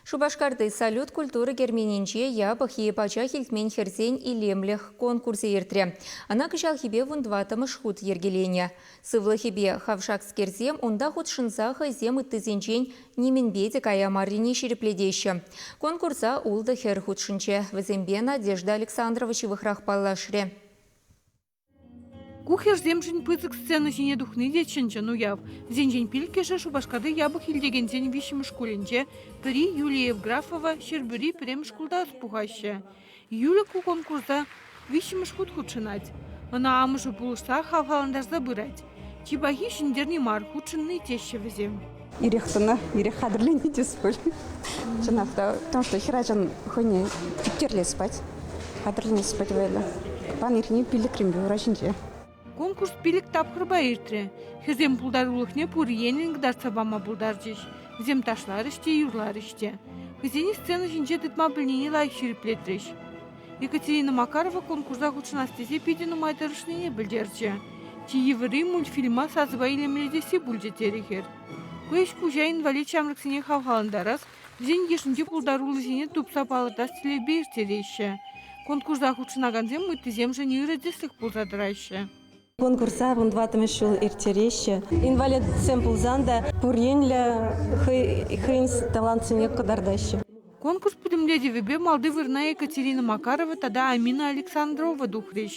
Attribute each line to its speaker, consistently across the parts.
Speaker 1: Шупашкарти Салют культура керменӗнче япӑх е пачах илтмен хӗрсен илемлӗх конкурсӗ иртрӗ. Ӑна кӑҫалхипе вун тӑваттӑмӗш хут йӗркеленӗ. Сывлӑхӗпе хавшакскерсем унта хутшӑнса хӑйсем ыттисенчен нимӗнпе те кая маррине ҫирӗплетеҫҫӗ. Конкурса ултӑ хӗр хутшӑнчӗ. Вӗсемпе Надежда Александрова ҫывӑхрах паллашрӗ.
Speaker 2: Ку хӗрсемшӗн пысӑк сцена ҫине тухни те чӑн-чӑн уяв. Вӗсенчен пилӗккӗшӗ Шупашкарти япӑх илтекенсен виҫҫӗмӗш шкулӗнче, пӗри Юлия Евграфова, Ҫӗрпӳри пӗрремӗш шкулта ӑс пухаҫҫӗ. Юлик ку конкурса виҫҫӗмӗш хут хутшӑнать. Ӑна амӑшӗ пулӑшса хавхалантарса пырать. Чи пахи ҫӗнтерни мар, хутшӑнни теҫҫӗ вӗсем. Ирех тӑнӑ,
Speaker 3: ирех хатӗрлени тес пуль. Чӑнах та, потому что хӗрачан хӑйне типтерлес пать, хатӗрленес пать вӑйлӑ. Пан иртни пиллӗкренпе ура ҫинче. Конкурс
Speaker 2: пилӗк тапхӑрпа иртрӗ. Хӗрсем пултарулӑхне пур енлӗн кӑтартса пама пултарчӗҫ. Вӗсем ташларӗҫ те, юрларӗҫ те. Хӑйсене сцена ҫинче тытма пӗлнине лайӑх ҫирӗплетрӗҫ. Екатерина Макарова конкурса хутшӑнас тесе питӗ нумай тӑрӑшнине пӗлтерчӗ. Чи йывӑрри мультфильма сасӑпа илемлетесси пулчӗ терӗ хӗр. Ку ӗҫ куҫа инвалид ҫамрӑксене хавхалантарас, вӗсен йышӗнчи пултаруллисене тупса палӑртас тӗллевпе ирттереҫҫӗ. Конкурса хутшӑнакансем ыттисемшӗн ырӑ тӗслӗх пулса тӑраҫҫӗ. Конкурса
Speaker 4: вун тӑваттӑмӗш ҫул ирттереҫҫӗ. Инвалидсем пулсан та пур енлӗ хӑйӗн талантсене кӑтартаҫҫӗ. Конкурс
Speaker 2: пӗтӗмлетӗвӗпе малти вырӑна Екатерина Макарова тата Амина Александрова тухрӗҫ.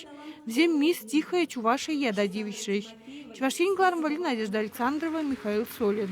Speaker 2: Вӗсем Мисс Тихая Чувашия ята тивӗҫрӗҫ. Чӑваш Ен кӑларӑмвӑрри Надежда Александрова, Михаил Солин.